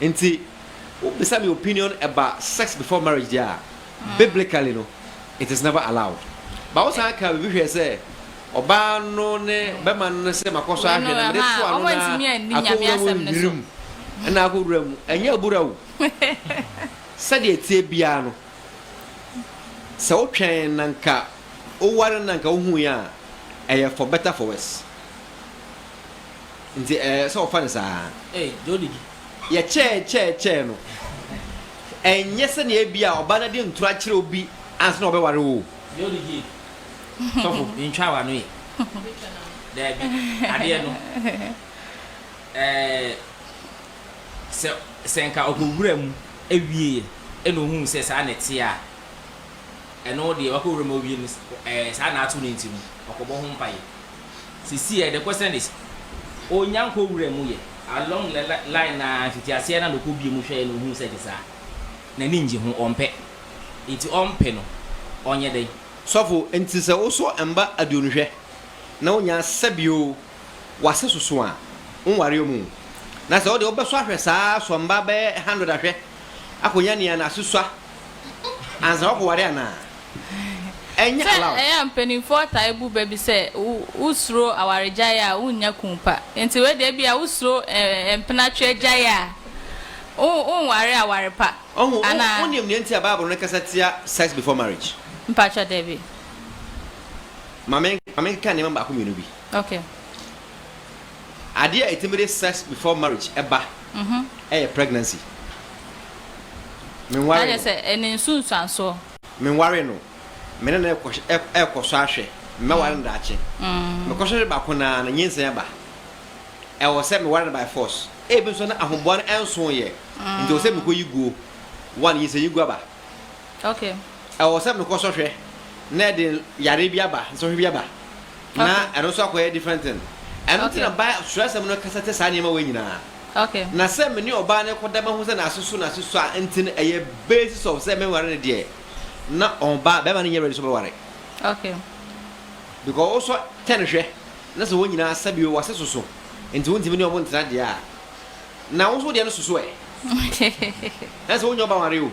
Nti wo bisa me opinion about sex before marriage deɛ a, biblically no it is never allowed. But wo san kaa biribi hwɛɛ sɛ ɔbaa no ne bɛma no sɛ ma kɔ so ahwɛ na mede to ano na akɔ wura mu nhwiri mu ɛna akɔ wura mu ɛnyɛ abura o. Sɛdeɛ ɛteɛ biara no sɛ wo twɛn na nka wo ware no na nka wo hui a ɛyɛ for better for worse. Nti ɛɛ sɛ ɔfa no saa. Ei Jody di. Yɛkyɛɛ kyɛɛ kyɛɛ no. Ɛnyɛ sɛnea ebia ɔbaa no de ntoro akyerɛ obi ansa na ɔbɛware wo o. Jody di. Sɔfo ntwaa w'ano ɛ. Daabi, adeɛ no ɛɛ sɛ sɛ nka ɔkɔwura mu wieɛ ɛna ɔhuu sɛ saa na ɛteɛ a, ɛno deɛ wakɔwura mu awie no ɛɛ saa na ato no nti no ɔkɔbɔ ho mpaeɛ. Sisi ɛ de kɔ sɛn is onya nkɔ wura mu yɛ along the line na mfiti aseɛ na na ɔkɔ bie mu hwɛ yɛ na ohunu sɛ ɛte saa na ni ngye ho ɔmpɛ nti ɔmpɛ no ɔnyɛ dɛn. Sɔfo nti sɛ wo sɔ mba aduonu hwɛ na wo nya sɛ bioo wa sɛ soso a wo nware ɔmu na sɛ wo deɛ wo bɛ sɔ ahwɛ saa sɔ mba bɛyɛ hundred ahwɛ akɔ nya nea na se sua ansa wakɔ ware anaa. Ɛnyɛ allowed. Sɛ ɛyɛ a mpanimfoɔ taa bu bɛ bi sɛ wosuro awaregyaeɛ a wonnya kunu pa. Nti wei deɛ ebia wosuro mpenatweɛgyaeɛ a wonware aware pa Ɔho, anaa? wo, wonim nea nti a Bible no kasa tia sex before marriage? Mpakyɛ dabi. Ma me, ma me nkeka nneɛma baako mmienu bi. Okay. Adeɛ a ɛtumi de sex before marriage ɛba ɛyɛ pregnancy. Menware no. Ayɛ sɛ ɛne nsunsuansoɔ. Menwaree no. Me ne no rekɔ so ahwɛ. Mɛware no daakye. Mekɔ so hwɛ baako no ara na nyinsɛn aba. Ɛwɔ sɛ meware no by force. Ebi nso na ahoboa no nso yɛ, nti ɛwɔ sɛ mekɔ yi guo. One, nyinsɛn yi guo aba. Ɛwɔ sɛ mekɔ so hwɛ na ɛde yareɛ bi aba, nsɔhwɛ bi aba, na ɛno nso akɔ yɛ different thing. Ɛno nti na Twerɛsɛm no kasa tia saa nneɛma wei nyinaa. Okay. Na sɛ me ne ɔbaa no kɔda mahu sɛ n'ase so n'ase so a nti no ɛyɛ basis of sɛ menware no deɛ na ɔba bɛrima no nyɛ ready sɛ ɔbɛware. Okay. Because wosɔ ten hwɛ na sɛ wɔn nyinaa sɛ bio wase soso nti wontumi ne ɔmo ntena deɛ a na woso deɛ no soso ɛ. Na sɛ wonya ɔba ware o.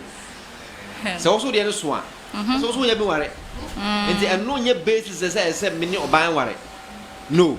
Sɛ woso deɛ no so a na sɛ woso wonya bi ware. Nti ɛno nyɛ basis sɛ sɛ me ne ɔbaa nware. No.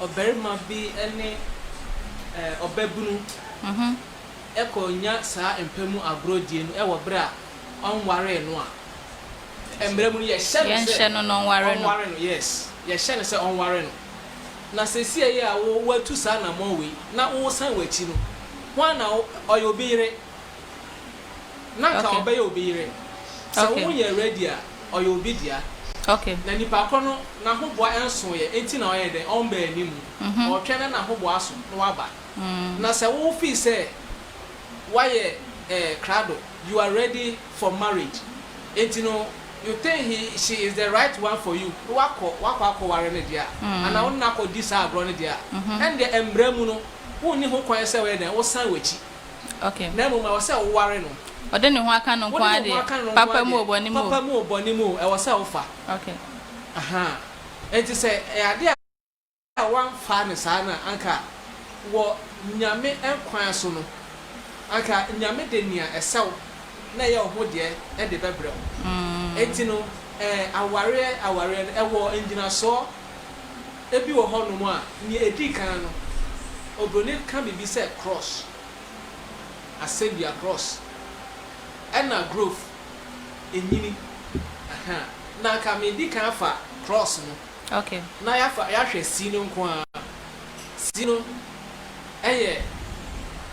ɔbarima bi ne ɔbabunu kɔ nya saa mpa mu agorɔ die no wɔ berɛ a ɔnwaree no a, mmara mu no yɛhyɛ no sɛ ɔnware no, yes, yɛhyɛ no sɛ ɔnware no. Na sesie yi a wo, woatu saa anamɔn wei na woresan w'akyi no, hwan na ɔyɛ obi yere? na anka ɔbɛyɛ obi yere sɛ wo ho yɛ ready a ɔyɛ obi dea na nipa korɔ no nahoboa ɛnso yɛ nti na ɔyɛ dɛn ɔmba animu ɔtwɛn na nahoboa aso na waba na sɛ wo feel sɛ wayɛ eh krado you are ready for marriage nti no you think he she is the right one for you na wakɔ wakɔ akɔ ware no dea anaa wo ne no akɔ di saa agorɔ no dea ɛndeɛ mmra mu no wo nni ho kwan sɛ wo yɛ dɛn wo san wakyi Okay. Na mmom ɛwɔ sɛ woware no. Ɔde ne ho aka no nko ara deɛ. Papa mu o, bɔne mu o. Papa mu o, bɔne mu o, ɛwɔ sɛ wofa. Okay. Aha. Enti sɛ ɛyɛ ade a woamfa no saa no a, anka wɔ Nyame kwan so no, anka Nyame de nea ɛsɛ wo na ɛyɛ wo ho deɛ de bɛbrɛ wo. Enti no, ɛɛ, awareɛ, awareɛ no, ɛwɔ ngyinasoɔ. Ebi wɔ hɔnom a, nea edi kan no, oburoni ka biribi sɛ krɔɔs, asɛndua krɔɔs, ɛnna grove, enyini, aha, na anka medi kan afa krɔɔs no, na yɛafa yɛahwɛ si no nko ara. Si no yɛ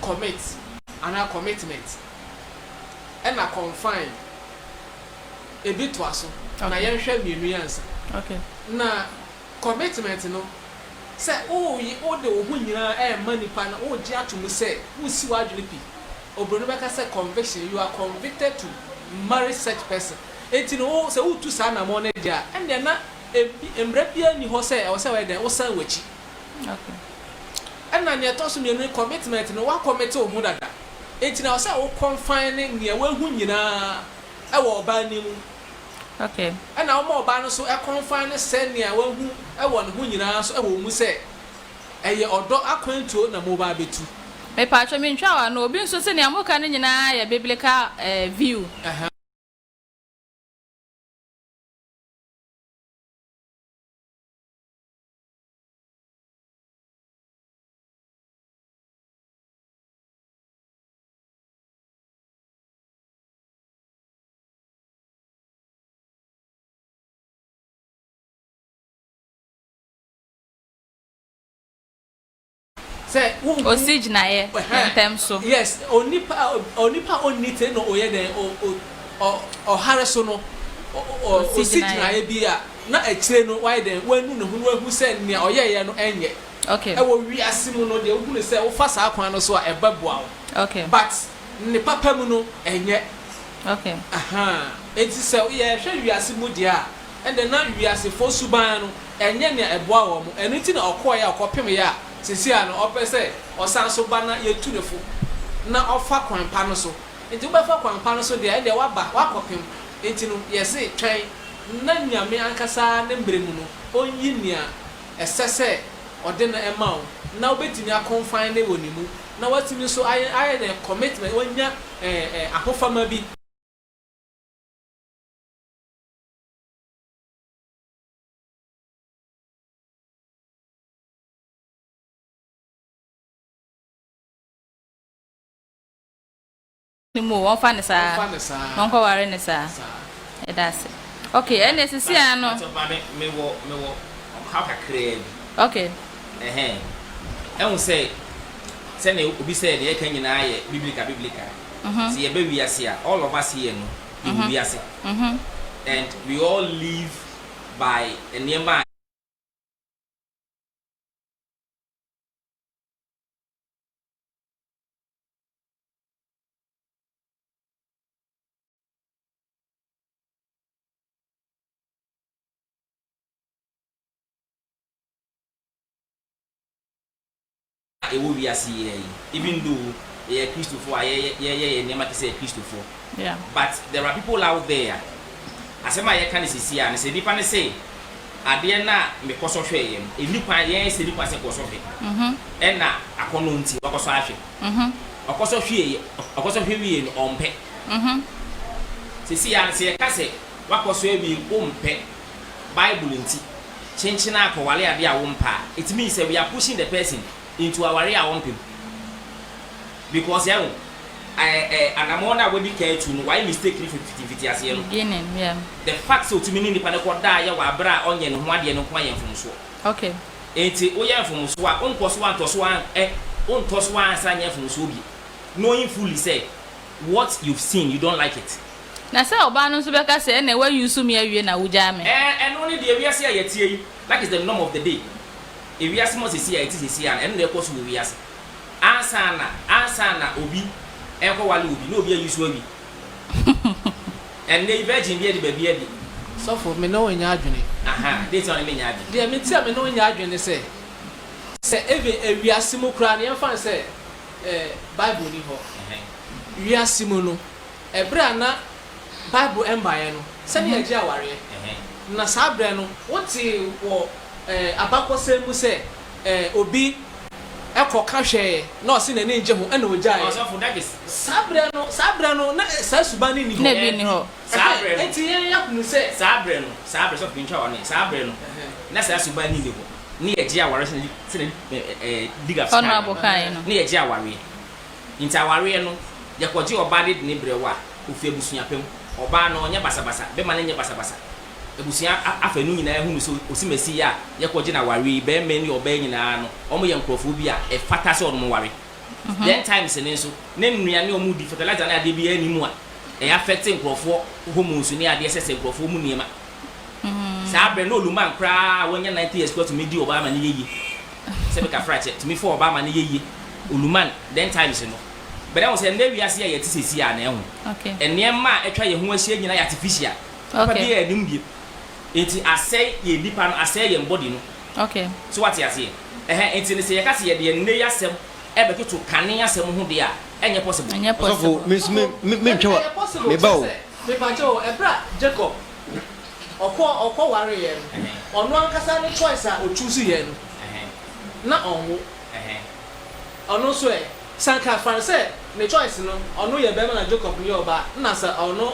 commit anaa commitment, ɛnna confine, ebi toa so, na yɛnhwɛ mmienu yi ansa na. Commitment no, sɛ woye wode wo ho nyinaa rema nnipa na wogye ato mu sɛ wonsi w'adwene pi. Oburoni bɛka sɛ conviction, you are convicted to marry such person. Enti no, sɛ woretu saa anammɔn no deɛ a, ɛnneɛ na ebi, mmara biara nni hɔ sɛ ɛwɔ sɛ woyɛ dɛn, wosan w'akyi. Ɛnna nea ɛtɔ so mmienu ne commitment no, woakɔmete wo ho dada. Enti na ɛwɔ sɛ wo kɔnfan ne nea woahu nyinaa wɔ ɔbaa no mu. Ɛnna wɔmaa ɔbaa no so kɔnfan ne sɛnea wɔahu wɔ ne ho nyinaa nso ɛwɔ mu sɛ ɛyɛ ɔdɔ akwantuo na moreba abɛtu. Mepaatwo mentwa w'ano obi nso se nea moka no nyinaa yɛ biblical view. sɛ wonku osi gyinaeɛ Ɛhɛn. ntɛm so. yes onipa a ɔ- onipa a ɔnni tene na ɔyɛ dɛn ɔ- ɔ- ɔ- ɔhare so no ɔ- ɔ- ɔ- Osi ɔsi gyinaeɛ. gyinaeɛ bi a na akyire no wayɛ dɛn wanu ne ho na wahu sɛ nea ɔyɛeɛ no ɛnyɛ ok ɛwɔ wiase mu no deɛ wohunu sɛ wofa saa kwan no so a ɛbɛboa wo ok but ne papa mu no ɛnyɛ. Okay. Aha. Enti sɛ yɛhwɛ wiase mu deɛ a, ɛnde na wiasefoɔ suban no ɛnyɛ nea ɛboa wɔn. Ɛno nti na ɔkɔeɛ a ɔkɔpemeeɛ a seesei a no ɔpɛ sɛ ɔsan nso ba na yɛtu no fo na ɔfa kwan pa no so. Enti wobɛfa kwan pa no so deɛ a, ɛnde woaba, woakɔpem. Enti no, yɛse twɛn na Nyame ankasa ara ne mmerɛ mu no ɔnyi nea ɛsɛ sɛ ɔde no ma wo na wobɛtumi akɔnfine wɔ ne mu. na watumi nso ayɛ ayɛ dɛn commitment wanya ɛɛ ɛɛ ahofama bi. no mu o wɔmfa no saa wɔnkɔware no saa yɛda ase ok ɛnna sisi a no Pastor Bane, mewɔ mewɔ ɔhaw kakraa bi. ok Ɛhɛn. Ɛhu sɛ sɛnea obi sɛ deɛ ɛka nyinaa yɛ biblical biblical. Sɛ yɛba wiase a, all of us here no, yɛwɔ wiase. And we all live by nneɛma a. ɛwɔ wiase yi ɛɛ even though yɛyɛ Kristofo a yɛ yɛ yɛyɛ yɛn nneɛma te sɛ Kristofo Yeah. but there are people out there a asɛm a yɛka no sisi a no sɛ nipa no se adeɛ no a mekɔsɔ hwɛeɛ no ɛnni kwan yɛn sɛ nipa sɛ kɔsɔ hwɛ ɛna akɔnnɔ nti wakɔsɔ ahwɛ. Ɔkɔsɔ hwieɛ ɔkɔsɔ hwɛ wie no ɔmpɛ Sesei ara no sɛ yɛka sɛ wakɔsɔ awie wompɛ Bible nti kyenkyen ara kɔware adeɛ a wompɛ a it means sɛ we are pushing the person into awareɛ a ɔmpɛ mu because yɛahu anamɔn no a wadi kan atu no wayɛ mistake no fiti mfitiaseɛ no The fact sɛ ɔtumi ne nipa no kɔdaeɛ wɔ aberɛ a ɔnyɛ ne ho adeɛ no nko ara yɛ mfomsoɔ. Okay. Enti woyɛ mfomsoɔ a, wonkɔ so antɔ so an ɛ wontɔ so ansan nyɛ mfomsoɔ bio, knowing fully sɛ what you've seen you don't like it. Na sɛ ɔbaa no nso bɛka sɛ ɛnna wa use me awie na wogyaa me. Ɛɛ ɛno ne deɛ wiase a yɛteɛ yi, that is the norm of the day. Ewiase mu seesei a ɛte seesei ara no, ɛno na ɛkɔ so wɔ wiase. Ansa na ansa na obi ɛrekɔwale obi na obi a use wo awie. Ɛnnɛ yi virgin bi adi baabi adi. Sɔfo, me ne wo nyɛ adwene. Aha, dee nti na ɔne me nyɛ adwene? Deɛ mete a me ne wo nyɛ adwene ne sɛ, sɛ even ewiase mu koraa no, yɛmfa no sɛ eh, Bible nni hɔ. Wiase mu no, ɛberɛ a na Bible mmaeɛ no, sɛdeɛ yɛgye awareɛ, na saa berɛ no, wotee wɔ eh, abakɔsɛm mu sɛ, eh, obi kɔ ka hwɛɛ na ɔse n'ani ngye ho na ɔgyaeɛ. Saa berɛ no, saa berɛ no na saa suban no nni hɔ. Na bi nni hɔ. Ɛhɛn, enti yɛn yɛahunu sɛ. Saa berɛ no, saa berɛ, sɔfo ntwa wɔne, saa berɛ no na saa suban no nni hɔ, na yɛgye awareɛ sɛdeɛ, sɛdeɛ eh, eh, Digaps kaeɛ no. Honourable kaeɛ no. Na yɛgye awareɛ. Nti awareɛ no, yɛkɔgye ɔbaa dedenee berɛ wo a, ɔfiri abusua pa mu. Ɔbaa no, ɔnyɛ basabasa, bɛma no nyɛ basabasa. Ebusua afa no nyinaa hunu sɛ osimesi yi a yɛkɔgye no aware yi, bɛrima ne ɔbaa nyinaa no, wɔyɛ nkorɔfoɔ bi a ɛfata sɛ wɔnom ware. Yɛn times no nso, ne nnuane a wɔdi, fertilizer ne adeɛ biara nni mu a ɛyɛ affect nkorɔfoɔ hormones ne adeɛ sɛ sɛ nkorɔfoɔ mu nneɛma. Saa berɛ no, na Oluman koraa a wanya 90 years koraa tumi di ɔbaa amane yɛyie. Sɛ beka frakyɛ, tumi fa ɔbaa amane yɛyie. Oluman, then times no. But ɛhu sɛ nnɛ wiase a yɛte sɛsi a na ɛho. Nneɛma a atwa yɛn ho ahyia nyinaa yɛ artificial. Nnipa bi yɛ dum bio. Nti asɛe yɛ nnipa no, asɛe yɛn body no. So woate aseɛ? Ɛhɛ, nti no sɛ yɛka sɛ yɛde yɛn nnɛyi asɛm ɛbɛtoto kane asɛm ho deɛ a, ɛnyɛ possible. Ɔsɔfo, me nso me, me, me ntwa wa, me ba o. Mepakyɛw o, ɛberɛ a Jacob ɔkɔ, ɔkɔ wareeɛ no, ɔno ankasa ne choice a ɔ choose yɛ no, na ɔnwo. Ɔno nso ɛ? Sɛ anka fa no sɛ ne choice no, ɔno yɛ barima na Jacob no yɛ ɔbaa, na sɛ ɔno.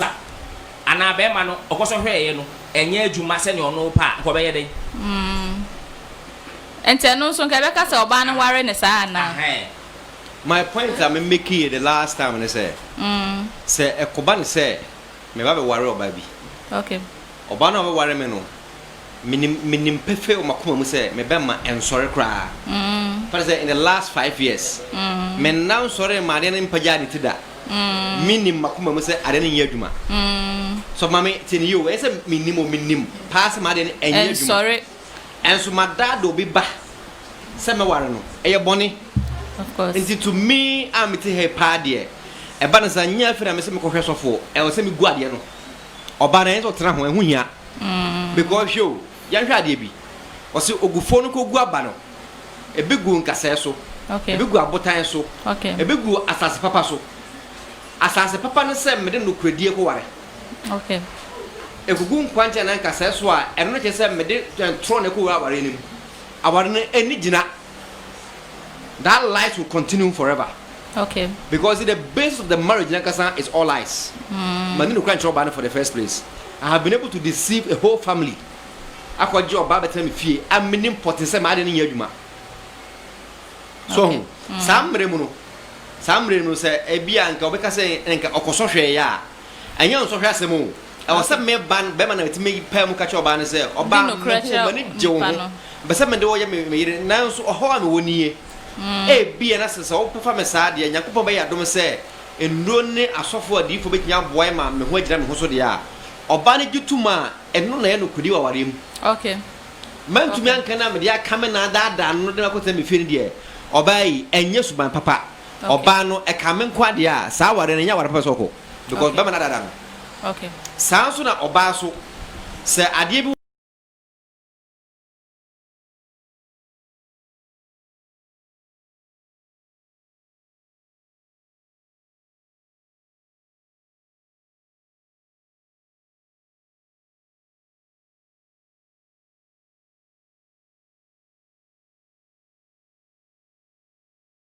sa anaa barima no ɔkɔ so hwɛeɛ no nyɛ adwuma sɛdeɛ ɔno repɛ a, nka ɔbɛyɛ dɛn? Mm. Nti ɛno nso nka ɛbɛka sɛ ɔbaa no ware ne saa anaa? Ahɛn. My point a me make yɛ the last time ne sɛ, mm. sɛ ɛkɔba ne sɛ meba bɛware ɔbaa bi, okay. ɔbaa no a ɔbɛware me no, Minim minim pefee wɔ m'akoma mu sɛ me bɛ mma nsɔre koraa. Fa no sɛ in the last five years, me nna nsɔree mmaa adeɛ no mpagyaa ne ti da. Minim m'akoma mu sɛ adeɛ no nyɛ adwuma. Sɔfo Maame, tie no yie o, ɛyɛ sɛ minim o, minim paa sɛ m'adeɛ no ɛnyɛ adwuma. Ɛnso mada da obi ba sɛ mɛware no, ɛyɛ bɔne. Nti to me a mete ha yi paa deɛ, ɛba no saa, nyɛ afei na mese mekɔhwɛ sɔfo o, ɛwɔ sɛ megu adeɛ no. ɔbaa no ɛnsɛ sɛ ɔtena ho, ɛho hia because hwɛ o, yɛnhwɛ adeɛ bi, ɔse ogufoɔ no kɔgu aba no, ebi gu nkasɛɛ so, ebi gu abotan so, ebi gu asase papa so, asase papa no sɛ mede nokorɛdie kɔware, ɛkɔgu nkwankyɛn anaa nkasɛɛ so a, ɛno no kyerɛ sɛ mede torɔ na ɛkɔwura awareɛ no mu, awareɛ no ɛnni gyina. that lies will continue forever okay because the basis of the marriage nankasa is all lies mm. mani nokora nkyerɛ ɔbaa no for the first place i have been able to deceive a whole family akɔgye ɔbaa bɛtena me fie amene mpɔten sɛ maade no nyɛ adwuma so ho mm. saa mmerɛ mu no saa mmerɛ mu no sɛ ebi a nka wɔbɛka sɛ nka ɔkɔsɔ hwɛeɛ a Ɛnyɛ nsɔhwɛ asɛm o. Ɛwɔ sɛ me ba no, barima no tumi pae mu ka kyerɛ ɔbaa no sɛ, Ɔbaa, me ho, m'ani gye wo ho. Mepɛ sɛ mede wo yɛ me yere, nanso ɔhaw a mewɔ nie. Ebia na sɛ wofa me saa deɛ, Nyankopɔn bɛyɛ adom sɛ nnuro ne asɔfoɔ adiyifoɔ bɛtumi aboa yɛn ma me ho agyina me ho so deɛ a, ɔbaa no gye tom a, ɛno na ɛyɛ nokorɛdie wɔ awareɛ mu. Mantumi anka no a mede akame no adaadaa no de no akɔtena me fie no deɛ, ɔbaa yi, ɛnyɛ suban papa. ɔbaa no ɛkame nkoa deɛ a saa awareɛ no ɛnyɛ aware papa sɛ ɔkɔ because bɛma no adada no saa nso na ɔbaa so sɛ adeɛ bi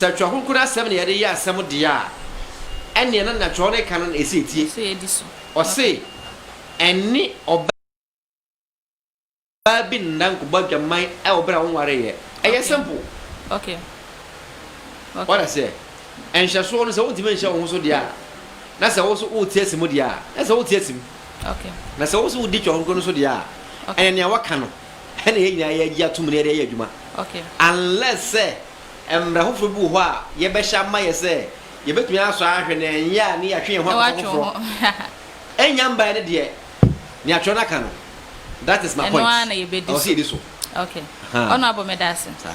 Sɛ Twerɛ Kronkron no asɛm na yɛde yɛ asɛm dea a, ɛnneɛ na na Twerɛ no reka no na ɛsɛ yɛtie. Ɔse, Ɛnne ɔbaa bi nna nkɔbɔ adwaman wɔ berɛ a wonwareeɛ. Ɛyɛ simple. Woate aseɛ? Nhwɛsoɔ no, sɛ wontumi nhyɛ wo ho so deɛ a, na sɛ wo nso worete asi mu deɛ a, na sɛ worete asi mu. Na sɛ wo nso wodi Twerɛ Kronkron no so deɛ a, ɛyɛ nea wɔaka no. ɛna yɛn nyinaa yɛagye atom na yɛde ayɛ adwuma. Unless sɛ mmara foforɔ bi wɔ hɔ a yɛbɛhyɛ ama yɛ sɛ yɛbɛtumi asɔ ahwɛ na ɛnyɛ a ne yɛatwe yɛn ho akɔ fafoforɔ. Ɛnnya mbaeɛ no deɛ, nea twerɛ no aka no, that is my point. Ɛno ara na yɛbɛdi so. Ɛwɔ sɛ yɛdi so. Okay. Honourable meda ase. Saa.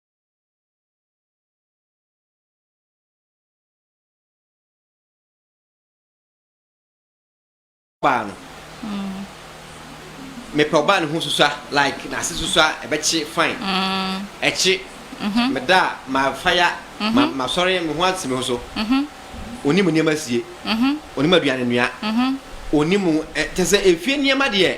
ɔbaa no mm. mepɛ ɔbaa ne ho susua like na ase susua ɛbɛkye fine mm. ɛkye mhm. meda a mafaya mhm. masɔre me ho ase me ho so mhm. onim nneɛma sie onim aduane nua onim kyɛ sɛ efie nneɛma deɛ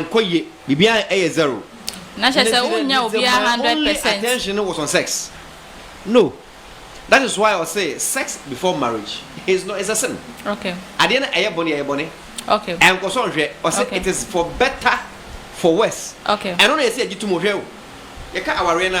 nkɔ yie biribiara ɛyɛ zero. na kyɛ sɛ wonya obiara hundred percent. attention was on sex no that is why ɔsɛ sex before marriage is no is a sin okay adeɛ no ɛyɛ bɔne ɛyɛ bɔne okay ɛnkɔ so nhwɛ ɔsɛ okay. it is for better for worse okay ɛno na yɛsɛ yɛgye to mu hwɛ o yɛka awareɛ no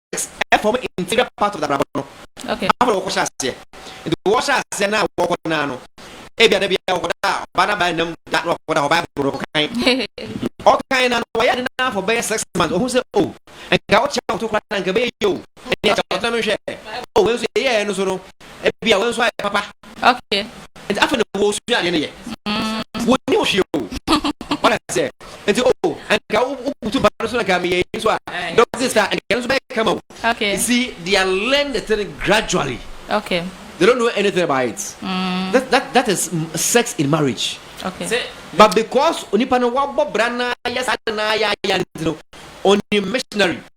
ɛfɔm integral part of abrabɔ no afɔ na wɔkɔ hyɛ aseɛ nti wɔkɔ hyɛ aseɛ na wɔkɔ naa no ebi ada bi a wɔkɔ da ɔbaa na baa nam da na wɔkɔ da ɔbaa ɛboro no kɔkan ɔkan na wɔyɛ ade na afɔ bɛyɛ six months ohun sɛ o oh, nka ɔkyɛ ɔto kora na nka bɛyɛ yie o ɛni akyɛ ɔtena mi hwɛ o oh, wei nso yɛyɛ ɛyɛ no so no Ebi a wo nso ayɛ papa. Okay. Nti afei na wo sua adeɛ no yɛ. Mm. Wo ni wo hwee o. Wala sɛ. Nti o oh, nka wo kutu ba no so na nka meyɛ yi nso a. Dɔgba sista nka yɛn nso bɛyɛ kama o. Okay. You see they are learn the thing gradually. Okay. They don't know anything about it. Mm. That, that, that is sex in marriage. Okay. Say, but because onipa no wabɔ bra na yɛ saa na yɛ ayɛ no ɔne missionary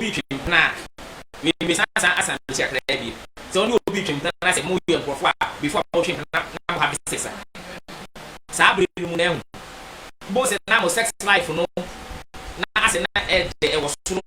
obi twe mpena a, memmisa saa asɛm kyerɛ koraa bio. Sɛ wo ne obi twe mpena na sɛ moyɛ nkurɔfo a, before a motwe mpena na mo have sex a, saa bere no mu na ɛho. Wobɛhu sɛ na mo sex life no na asɛ na ɛyɛ dɛ, ɛwɔ soro.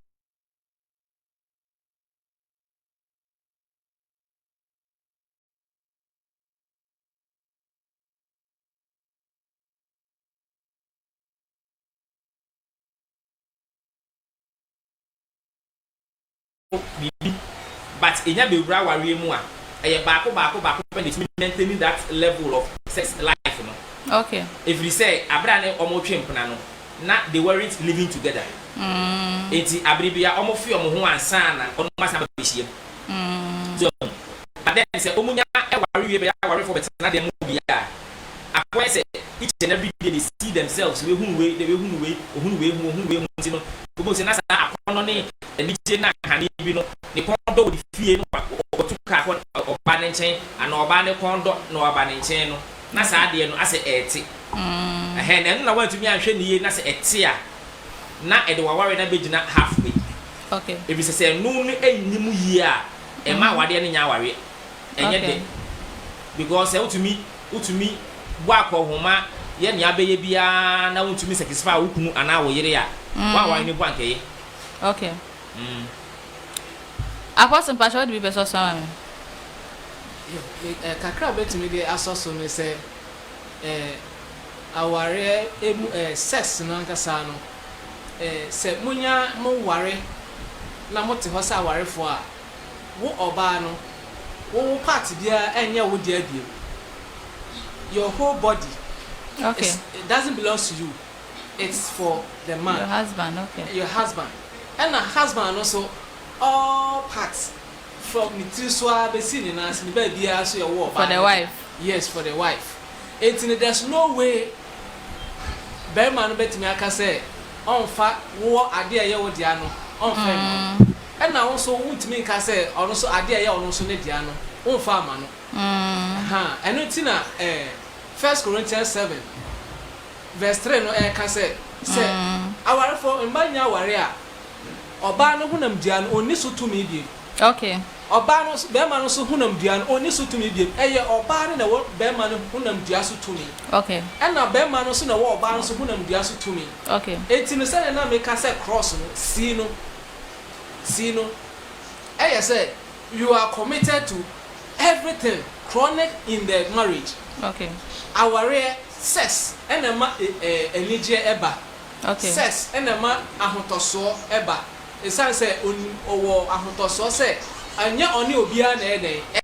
biribi but ɛnya bɛwura awareɛ mu a ɛyɛ baako baako baako pɛ na ɛtumi maintain that level of sex life no okay ɛfiri sɛ aberɛ a ne ɔmo twe mpena no na they weren't living together mm. enti abere bia ɔmo fe ɔmo ho ansa na ɔmo asan bɛhyia mu mm. so Ba dɛ sɛ wonya awar wie bɛyɛ awarfo bɛtsena dan mu wie a, akɔyɛ sɛ each and every day they see themselves, woehun wei dɛ woehun wei, ohun wei ho, wohun wei ho ntsi no, wobohu sɛ na saa akɔnnɔ ne enyigye na ahane bi no ne kɔn dɔ wɔ ne fie no a, ɔbɔtu kaar kɔ ɔbaa no nkyɛn anaa ɔbaa no kɔn dɔ na ɔaba ne nkyɛn no na saa adeɛ no asɛ ɛɛtse. Ɛhɛn, na ɛno na woanntumi annhwɛ no yie na sɛ ɛtse a na ɛde w'awareɛ no abɛgyina halfway. Efisɛ sɛ ɛno no nnyi mu yie a, Ɛma awadeɛ no nyɛ awareɛ. Ɛnyɛ dɛ. Because sɛ wotumi wotumi bɔ akɔnhoma yɛ nea abɛyɛ biara na wontumi satisfy wo kunu anaa wo yere a, w'aware no mpo ankɛyɛ. Okay. Mm. Apostle mpakyɛ wode bi bɛsɔ so ama me? Eh, kakra a mɛtumi de asɔ so ne sɛ eh, awareɛ mu eh, sex no ankasa no, sɛ monya mo ware na mote hɔ sɛ awarefoɔ a, wo ɔbaa no, wo wo part biara nyɛ wo dea biom. Your whole body Okay. is, it doesn't belongs to you, it's for the man, Your husband, okay. your husband. Ɛna husband no nso, all parts, from ne tiri so ara bɛsi ne nan ase no, baabiara nso yɛ wo For ɔbaa the no dea. wife. Yes, for the wife. Enti no, there's no way. barima no bɛtumi aka sɛ ɔmfa wowɔ adeɛ a ɛyɛ wo dea no ɔmfa mma no, ɛna wo nso wontumi nka sɛ ɔno nso adeɛ a ɛyɛ ɔno nso ne dea no womfa mma no. Ɛha, ɛno nti na ɛɛ First Corinthians seven verse three no ɛreka sɛ, Sɛ awarefoɔ mma nnya aware a, ɔbaa no honam dua no ɔnni so tumi bio. Okay. Ɔbaa no, barima no so honam dua no, ɔnni so tumi biom. Ɛyɛ ɔbaa no na ɛwɔ barima no honam dua so tumi. Okay. Ɛna barima no nso na ɛwɔ ɔbaa no nso honam dua so tumi. Okay. Enti no, sɛdeɛ na meka sɛ cross no, sii no, sii no, ɛyɛ sɛ you are committed to everything chronic in the marriage. Okay. Awareɛ, sex, ɛna ɛma anigyeɛ ɛba. Okay. Sex ɛna ɛma ahotɔsoɔ ɛba. Esiane sɛ onim ɔwɔ ahotɔsoɔ sɛ ɛnyɛ ɔne obiara na ɛyɛ dɛn?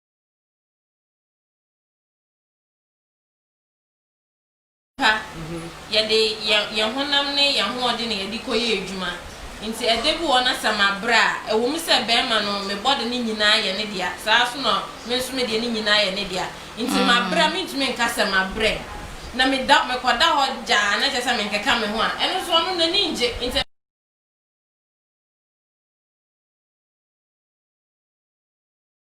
pa. Yɛde yɛn yɛn honam ne yɛn ahoɔden na yɛde kɔyɛ adwuma. Nti ɛda bi wɔ hɔ na sɛ mabrɛ a, ɛwɔ mu sɛ barima no me bɔde no nyinaa yɛ ne dea, saa ara nso na me nso me deɛ no nyinaa yɛ ne dea. Nti mabrɛ a, mentumi nka sɛ mabrɛ. Na meda mekɔda hɔ gyaa na kyerɛ sɛ menkeka me ho a, ɛno nso ɔno n'ani ngye. Nti.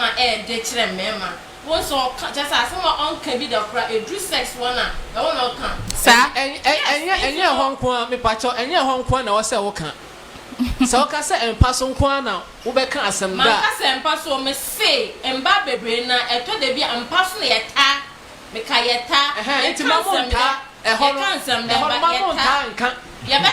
na ɛyɛ de kyerɛ mmarima wohu sɛ ɔka kyerɛ sɛ asɛm a ɔnka bi da koraa ɛduru sex one a ɛhɔ na ɔka saa yes ɛnyɛ ɛhɔ nko ara mepakyɛw ɛnyɛ ɛhɔ nko ara na ɛwɔ sɛ woka sɛ woka sɛ ɛmpa so nko ara na wobɛka asɛm da manka sɛ ɛmpa so me se mmaa bebree na ɛtɔ da bi a mpa so na yɛtaa meka yɛtaa ɛhɛn nti ma mo ntaa ɛhɔ no ɛhɔ no ma mo ntaa nka yɛbɛ.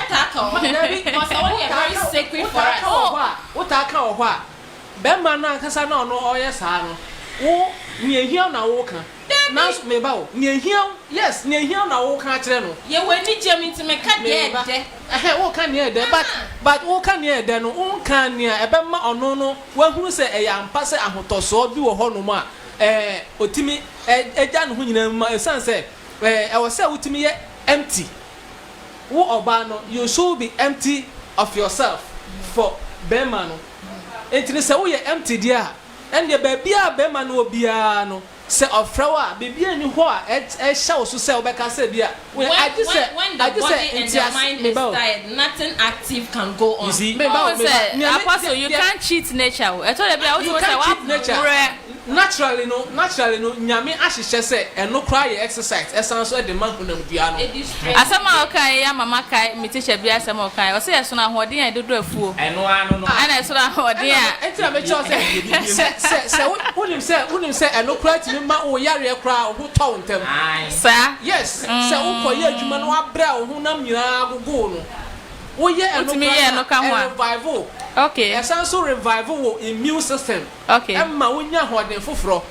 Wotaa ka wɔ hɔ a? Dabi, ɔsɛ wo deɛ very sacred for us. Wotaa ka wɔ hɔ a? Wotaa ka wɔ hɔ a? Bɛrima no ankasa na ɔno ɔyɛ saa no, wo, nea ehia wo na woka. Dabi. Nanso, me ba o, nea ehia wo, yes, nea ehia wo na woka akyerɛ no. Yɛ wɔ anigyem nti meka deɛ ɛyɛ dɛ. Ɛhɛn, woka nea ɛyɛ dɛ, but, but woka nea ɛyɛ dɛ no, wonka nea ɛbɛma ɔno no wahunu sɛ ɛyɛ ampa sɛ ahotɔsoɔ bi wɔ hɔnom a, ɛɛ, ɔtumi, ɛɛ, gya ne ho nyinaa mu ma, esiane sɛ, ɛɛ, ɛwɔ sɛ wotumi yɛ Empty, Wo ɔbaa no you should be empty of yourself for barima no. Enti no sɛ woyɛ empty deɛ a, ɛnneɛ baabi a barima no wɔ biara no, sɛ ɔfrɛ wo a, biribiara nni hɔ a ɛhyɛ wo so sɛ wobɛka sɛ ebia woyɛ agye sɛ, agye sɛ ntease, meba o. You see, meba o, meba, nea me, deɛ, deɛ. You can't cheat nature o, ɛtɔ da bi a wotumi sɛ woabrɛ. Naturally no, naturally no, Nyame ahyehyɛ sɛ ɛno koraa yɛ exercise, ɛsan nso de ma honamdua no. Asɛm a ɔkae yi ama makae me tikya bi asɛm a ɔkae, ɔse ɛsono ahoɔden a ɛdodɔ afuo Ɛno ara no no. ɛna ɛsono ahoɔden a. Ɛna, ɛnti na mekyerɛ wo sɛ, sɛ, sɛ, sɛ wo, wonim sɛ, wonim sɛ ɛno koraa tumi ma wo yareɛ koraa a wo ho tɔ wo ntɛm. Ae. Saa. Yes, sɛ wo kɔ yɛ adwuma na wabrɛ a wo honam nyinaa agogo wo no, wo yɛ ɛno Wotumi koraa yɛ no ɛno ka a, ho a. ɛrevive wo. Okay. Ɛsan nso revive wo immune system. ma wonya ahoɔden foforɔ,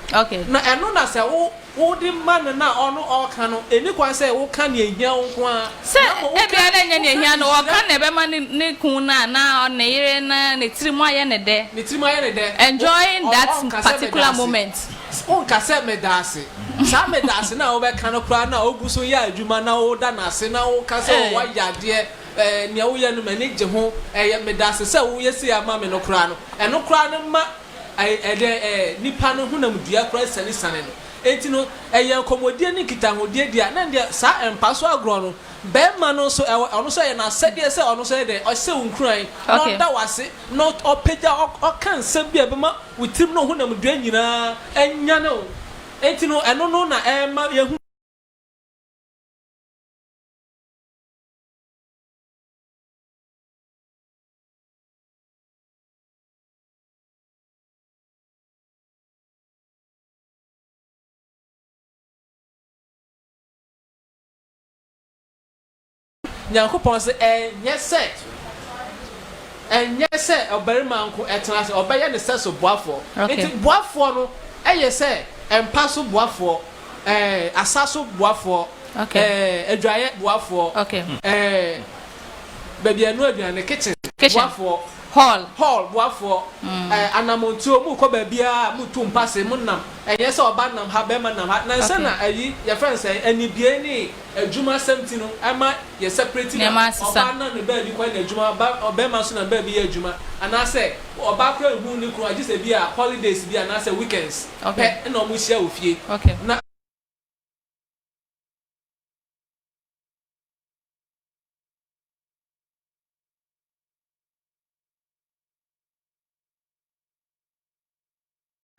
na ɛno na sɛ wode ma no no a, ɔno ɔreka no, ɛnni kwan sɛ woka nea ɛhia wo nko ara, na mmom woka nhyira ne nhyira. Sɛ ebia na ɛnyɛ nea ɛhia no, ɔka nea ɛbɛma ne kunu no anaa ne yere no ne tirim ayɛ no dɛ. Ne tirim ayɛ no dɛ. Enjoying that particular moment. Wonka sɛ meda ase. Saa meda ase no a wobɛka no koraa na wogu so yɛ adwuma na woda no ase na woka sɛ wayɛ adeɛ. Ɛɛ, nea woyɛ no m'ani gye ho. Ɛɛ, meda ase sɛ woyɛ sei ama me no koraa no, ɛno koraa no ma ɛɛ, dɛn, ɛɛ, nipa no honam dua koraa sianesiane no. Enti no, ɛyɛ nkɔmmɔdie ne nkitahodie deɛ a, na ɛndeɛ saa ɛmpa so agorɔ no, barima no nso, ɛwɔ, ɔno nso ɛyɛ n'asɛdeɛ sɛ ɔno nso ɔyɛ dɛn, ɔhyɛ wo nkuran, na Okay. ɔda wo ase, na ɔt, ɔpagya, ɔk, ɔka nsɛm bi a ɛbɛma wo tirim ne wo honam dua nyinaa anyane wo. Enti no, ɛno no na ɛma yɛhu. Nyankopɔn se, Ɛnyɛ sɛ, ɛnyɛ sɛ, ɔbarima nko tena ase, ɔbɛyɛ ne sɛso boafoɔ. Enti boafoɔ no yɛ sɛ mpa so boafoɔ. eh, asa so boafoɔ okay. eh, adwaeɛ boafoɔ okay. eh, baabi ɛno aduane kitchen, kitchen. boafoɔ hall hall boafoɔ mm. eh, anamontuo mu kɔ baabiara mu tu mpase mu nam ɛnyɛ sɛ ɔba nam ha bɛrima nam ha nansa okay. na ayi yɛfrɛ no sɛ anibie ne adwuma asɛm ti no ɛma yɛ separate na ɔba nam ne baabi kɔ na adwuma ɔbɛrima nso nam baabi yɛ adwuma anaasɛ ɔba kora ehu ne kunu agye sɛ bi a holidays bi anaasɛ weekends. pɛ na wɔhyia wɔ fie na.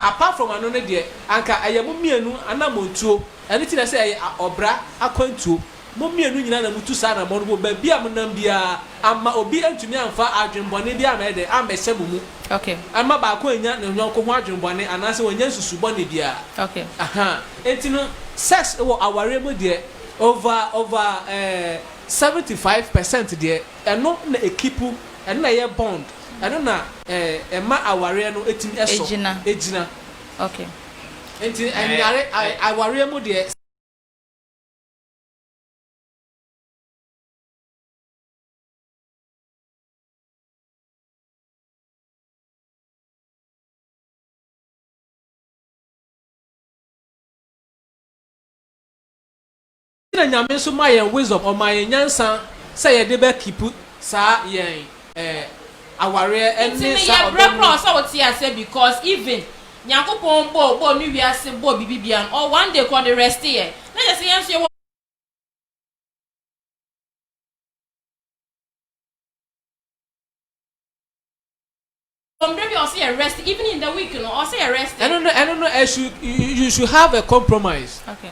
Apart from ano no deɛ anka ɛyɛ mo mmienu anaa montuo ɛno nti na ɛsɛ ɛyɛ ɔbra akwantuo. Mo mmienu nyinaa na mutu saa anammɔn no wɔ baabi a monam biara amma obi antumi amfa adwene bɔne biara ammɛyɛ dɛn? Ammɛhyɛ mo mu. Ɛmma baako annya ne yɔnko ho adwene bɔne anaasɛ wannya nsusuw bɔne biara. Aha! Enti no, sex wɔ awareɛ mu deɛ, over, over eh, seventy five percent deɛ, ɛno na ɛkipu, ɛno na ɛyɛ bond, ɛno na eh, ɛma awareɛ no tumi sɔ, ɛgyina. Enti ɛnyare, awareɛ mu deɛ. na nyame nso ma yɛn wisdom ɔma yɛn nyansa sɛ yɛde bɛ keep saa yɛn eh awareɛ ɛne saa ɔdɔ mu. Nyankopɔn bɔɔ bɔɔ ne wiase bɔɔ biribibiaa no ɔwɔ one day koraa ɔde rɛsteyɛ na kyerɛ sɛ yɛn nso yɛwɔ. Mmerɛ bi a ɔwɔ sɛ yɛ rɛste even in the week no ɔwɔ sɛ yɛ rɛste. Ɛno no ɛno no ɛsu you you should have a compromise. Okay.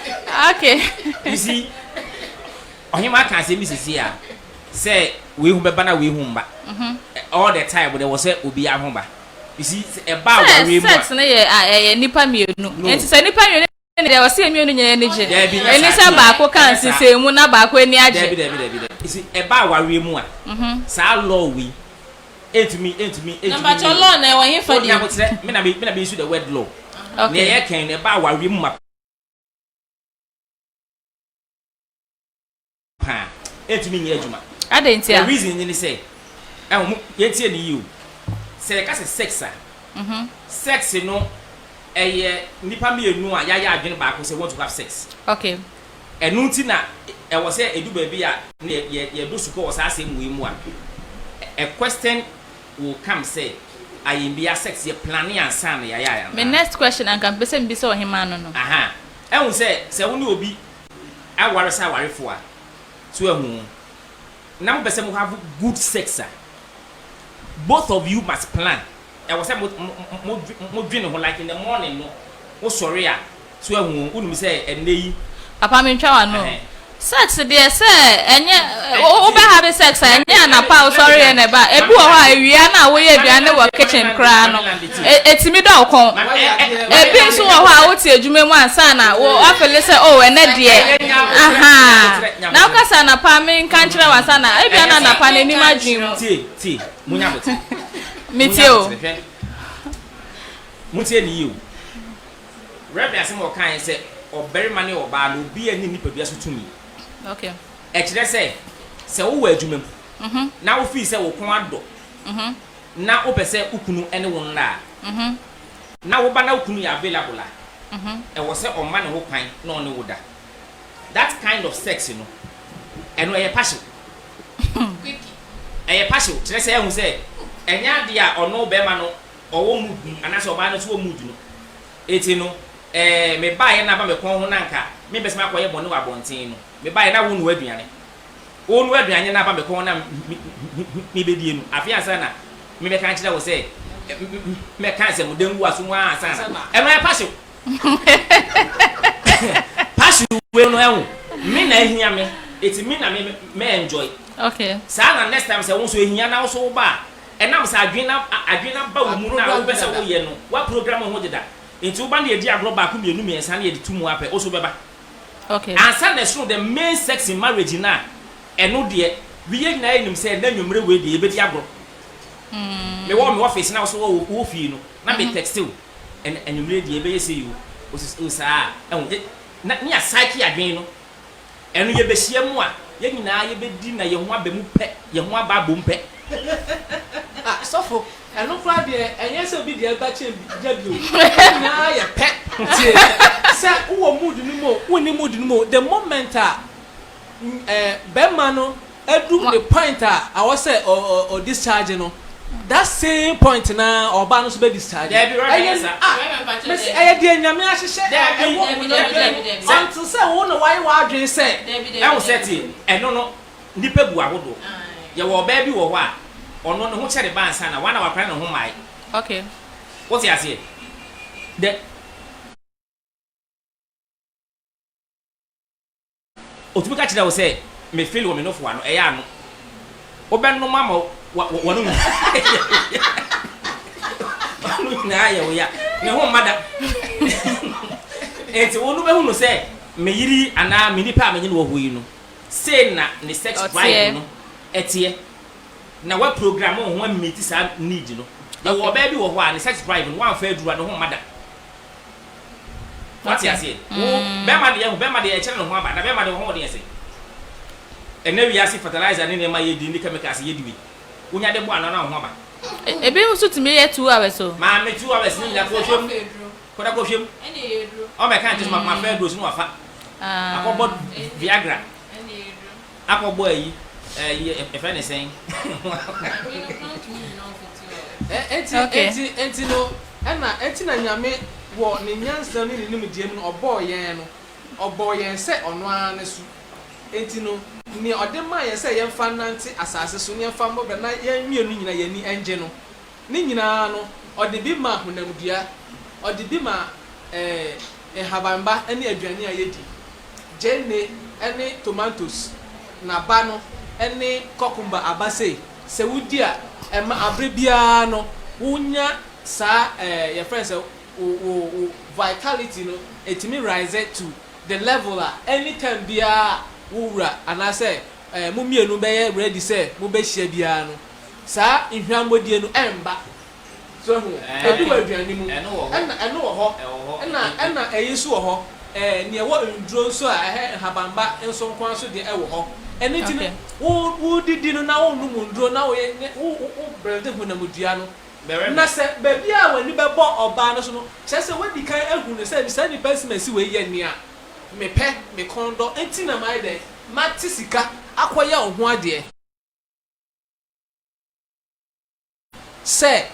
Okay. You see, Ohima can say Mrs. Sia, say we who beba na we who mba. Mm-hmm. All the time there was say obi ahomba. You see, a bar wa we mu. Sex na ye ah eh nipa mienu. Enti say nipa mienu na there was say mienu nyɛ ni je. Eni say ba ko kan si say mu na ba ko eni aje. Debi debi debi debi. You see, a bar wa we mu a. Mhm. Sa law we. Entumi entumi entumi. Number to law na wa hin fa di. Me na me na be use the word law. Okay. Ne ye kan ne ba wa we mu ma paa ɛntumi nyɛ adwuma adɛn nti a the reason nye ne sɛ ɛho mo yɛntie ne yie o sɛ yɛka sɛ sex a mhm. sex no ɛyɛ nnipa mmienu a yɛayɛ adwene baako sɛ want to have sex okay ɛno nti na ɛwɔ sɛ ɛdu baabi a ne yɛ- yɛ- yɛdo sukɔ wɔ saa asɛm wei mu a a question Wo come sɛ ayɛnbia sex yɛ plane ansa na yayɛ ayɛ Me anaa? next question anka mepɛ sɛ mebisa ɔhemaa no no. Aha ɛhu sɛ sɛ wone obi aware sɛ awarefo a so ahu na mopɛ sɛ mo have good sex a both of you must plan ɛwɔ sɛ mo mo mo dwene ho like in the morning no wo sɔre a So ahu o, wonim sɛ ɛnnɛ yi. Papa mentwa w'ano o. Sex deɛ sɛ ɛnyɛ wobɛhave sex a ɛnyɛ anapa a wosɔreɛ na ɛba ebi wɔ hɔ a awia no a woyɛ aduane wɔ kitchen koraa no ɛtumi dɔ wo kɔn ebi nso wɔ hɔ a wote adwuma mu ansa na wo afele sɛ oh ɛnɛ deɛ ahaa na woka sɛ anapa menka nkyerɛ wo ansa na ebia na anapa no anim adwene mu tie tie munya bote metie o mutie ne yie o Wura de asɛm a ɔkaeɛ sɛ ɔbarima ne ɔbaa no obiara nni nipadua so tumi. Ɛkyerɛ sɛ, sɛ wowɔ adwuma mu na wofii sɛ wo kɔn adɔ na wopɛ sɛ wo kunu ne wo nna a, na wo ba na wo kunu yɛ available a, ɛwɔ sɛ ɔma ne ho kwan na ɔne wo da. That kind of sex no, ɛno ɛyɛ passion. Ɛyɛ passion, kyerɛ sɛ, ahu sɛ, ɛnyɛ adeɛ a ɔno barima no ɔwɔ mood no mu anaasɛ ɔbaa no nso wɔ mood no eti no ɛɛ me baeɛ na aba me kɔn ho na nka me bɛsam akɔyɛ bɔne wɔ abɔnten no me baeɛ na wo noa aduane wo noa aduane na aba me kɔn ho na me bɛdie no afei ansa na me bɛka nkyerɛ wo sɛ mɛka nsɛmuden gu aso mu ansa na ɛno yɛ passion passion wei no ɛho me na ahia me eti me na me me enjoy okay saa na next time sɛ wo nso ehia na wo so wo ba Ɛnam sɛ adwene no adwene no aba wo mu no a wopɛ sɛ woyɛ no, woaprogram wo ho deda. Enti woba na yɛdi agorɔ baako, mmienu, mmiɛnsa na yɛde to mu ara pɛ, wo so bɛba. Ansa na ɛsono the main sex in marriage no a, ɛno deɛ, wi yɛn nyinaa yɛnim sɛ ɛnnɛ anwummere wei deɛ yɛbɛdi agorɔ. Mewɔ wɔ me office na wo nso wɔ wo fie no, na me texte wo, ɛnnɛ anwummere deɛ yɛbɛyɛ sei o, o saa a, ɛho, na ne yɛasaeke adwene no. Ɛno yɛbɛhyia mu a, yɛn nyinaa yɛbɛdi na yɛn ho aba mu pɛ, yɛn ho aba abom pɛ. Ah, sɔfo, ɛno koraa deɛ, ɛnyɛ sɛ obi deɛ ɛba kyɛn bi nya bi o, yɛn nyinaa yɛ pɛ. Tie, sɛ wowɔ mood no mu o, wonni mood no mu o, the moment a, eh, barima no Edu the point a awɔ sɛ ɔ discharge no, that same point no ara ɔbaa no nso bɛ discharge. Ɛyɛ no ah! Mese ɛyɛ deɛ Nyame ahyehyɛ a ɛwɔ onipa mu until sɛ wo na w'ayɛ w'adwene sɛ. Ɛho sɛ tie, ɛno no nipa bu ahodoɔ. Yɛwɔ ɔbaa bi wɔ hɔ a, ɔno ne ho kyɛre ba ansa na one hour koraa ne ho mmae. Okay. Wo te aseɛ? The. Otumi ka kyerɛ wo sɛ, Me feel wɔ me nofoa no, ɛyɛ a no. Wobɛnom ama w'ano nyinaa ayɛ wo ya. Ne ho mma da. Enti wo no bɛhu no sɛ me yere yi anaa me nipa a menye no wɔ hɔ yi no, sei na ne sex drive no teɛ. Na woaprogram wo ho ammiti saa need no. Yɛwɔ ɔbaa bi wɔ hɔ a, ne sex drive no, woamfa aduru a, ne ho mma da. So wate aseɛ? Wo bɛrima deɛ ho bɛrima deɛ ɛkyɛrɛ ne ho aba na bɛrima deɛ ɔhɔ ɔden ɛsɛ. Ɛnɛ wiase fertilizer ne nneɛma yɛ di ne chemicals yɛ di wei. Wonya de bɔ ano na wo ho aba. Ebi nso tumi yɛ two hours o. Maame two hours ne nyina kɔhwɛ mu. Kɔda kɔhwɛ mu. Ɔmɛka nkyɛ sɛ mapoma fɛ aduro so na wafa. Akɔbɔ viagra. Akɔ bɔ ayi ayi yɛfrɛ ne sɛn Enti no ɛna enti na Nyame wɔ ne nyansa ne ne nimdeɛ mu no ɔbɔɔ yɛn no ɔbɔɔ yɛn sɛ ɔno ara ne so enti no nea ɔde maa yɛn sɛ yɛmfa nnante asase so ne yɛmfa mmɔ bra na yɛnwie no nyinaa yɛn ani ngye no Ne nyinaa no, ɔde bi ma honamdua, ɔde bi ma eh, nhabamba ne aduane a yedi, gyeene ne tomatoes, na ba no ne kɔkomba aba sei, sɛ wudi a, ɛma abere biara no wonya saa eh, yɛfrɛ no sɛ wo, wo, wo vitality no, ɛtumi rise to the level a any time biara a wo wura anaasɛ eh, mo mmienu bɛyɛ ready sɛ mobɛhyia biara no, Saa hwammɔdie no ɛmba. So ahu? Ɛdu w'aduane mu. Ɛno wɔ hɔ. Ɛna ɛno wɔ hɔ. Ɛwɔ hɔ. Ɛna ɛna ɛyi nso wɔ hɔ. Ɛɛ nea ɛwɔ nnuro nso a ɛhɛ nhabanba nso nko ara so deɛ ɛwɔ hɔ. Ɛno nti no, wo wodidi no na wonom nnuro na woyɛ ne wo wo wo brɛde honamdua no. Bɛrɛ na sɛ baabi a w'ani bɛbɔ ɔbaa no so no, kyerɛ sɛ woadi kan ahu no sɛ saa nipa yi simasi wei yɛ nea mepɛ, mekɔn dɔ nti na mayɛ dɛn, mate sika akɔyɛ wo ho adeɛ. Sɛ,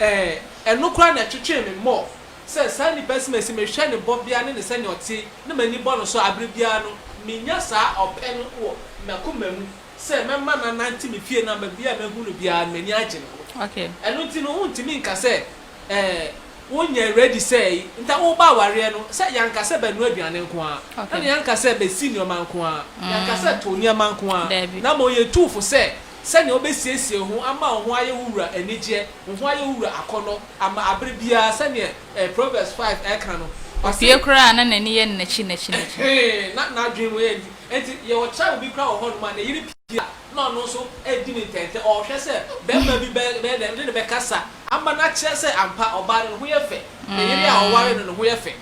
ɛɛ, ɛno koraa na ɛtwetwee me mmɔɔ sɛ saa nipa simasi mehwɛ ne bɔbea ne ne sɛnea ɔte na m'ani bɔ no so a bere biara no minya saa ɔpɛ no wɔ m'akoma mu sɛ mɛma no anante me fie na baabiara a mehu no biara no m'ani agye ne ho. Ɛno nti no wontumi nka sɛ eh, wo nyɛ ready sɛ ei, nta wo ba awareɛ no, sɛ yɛanka sɛ bɛnoa aduane nko ara, na Okay. ne yɛanka sɛ bɛsi nneɛma nko ara, yɛanka sɛ to nneɛma nko ara, Dabi. na mmom yɛtuu fo sɛ, sɛnea wobɛsiesie wo ho ama wo ho ayɛ wo wura anigyeɛ, wo ho ayɛ wo wura akɔnnɔ, ama aberɛ biara, sɛdeɛ eh, Proverbs five ɛka no. Ɔse, Opue koraa a na n'ani yɛ no n'akyi n'akyi n'akyi. Ɛhee, na n'adwene mu yɛ nti, enti yɛwɔ tribal bi koraa wɔ hɔnom a ne yere pie a, na ɔno nso redi no ntɛntɛ, ɔrehwɛ sɛ barima bi bɛ, bɛyɛ dɛn, ne no bɛkasa ama no akyerɛ sɛ ampa ɔbaa no, ne ho yɛ fɛ, ne yere a ɔwaree no, ne ho yɛ fɛ.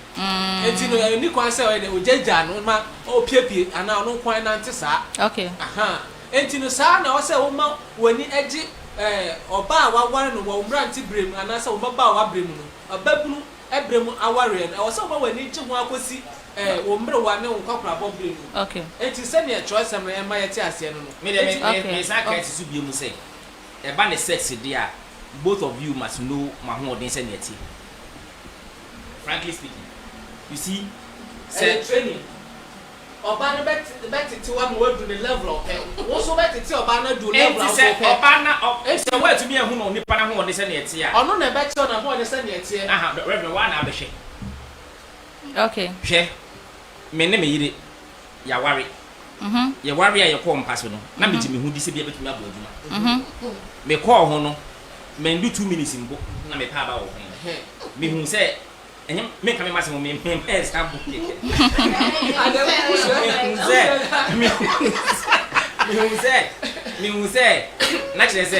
Enti no, ɛnni kwan sɛ ɔyɛ dɛn, ogyaagyaa no ma opiapie, anaa ɔno nko ara nante saa. Okay. Ahaa. Enti no, saa ara na ɛwɔ sɛ woma w'ani gye, ɛɛ, ɔbaa a wɔaware no wɔ wo mmerante bere mu, anaasɛ wo mmabaawa bere mu no, ɔbabunu. bere mu awareɛ no, ɛwɔ sɛ woma w'ani gye ho ara kɔsi eh, wo mmerewa ne wo nkwakoraabɔ bere no mu. Okay. Enti sɛdeɛ twerɛsɛm no ma yɛte aseɛ no no, Me deɛ, me, enti. me, Okay. me san ka Okay. si so bio mu sɛ, ɛba ne sex deɛ a, both of you must know mo ahoɔden sɛdeɛ ɛteɛ. Frankly speaking. You see, sɛ. Ɛyɛ training. Ɔbaa no bɛte bɛtete wo ama woadu ne level a ɔpɛ. Wo nso wobɛtete ɔbaa no adu level a Enti sɛ wopɛ. ɔbaa no a ɔ Enti sɛ sɛ. woantumi anhu no nipa no ahoɔden sɛnea ɛteɛ a. Ɔno na ɛbɛkyerɛ wo n'ahoɔden sɛnea ɛteɛ. Aha, Rev. Rev. Woa na abɛhwɛ. Okay. Hwɛ, me ne me yere, yɛaware. Yɛwaree a yɛkɔɔ mpa so no, na megye me ho di sɛ ebia mɛtumi abɔ adwuma. Mekɔɔ ho no, mandu two minutes mpo na mepɛ aba wɔ ho. Mehuu sɛ. Ɛnyɛ me nka me mma asɛm o, me mma yɛ saa bɔ kɛkɛ. Mehu sɛ, mehu sɛ, mehu sɛ, mehu sɛ, na kyerɛ sɛ.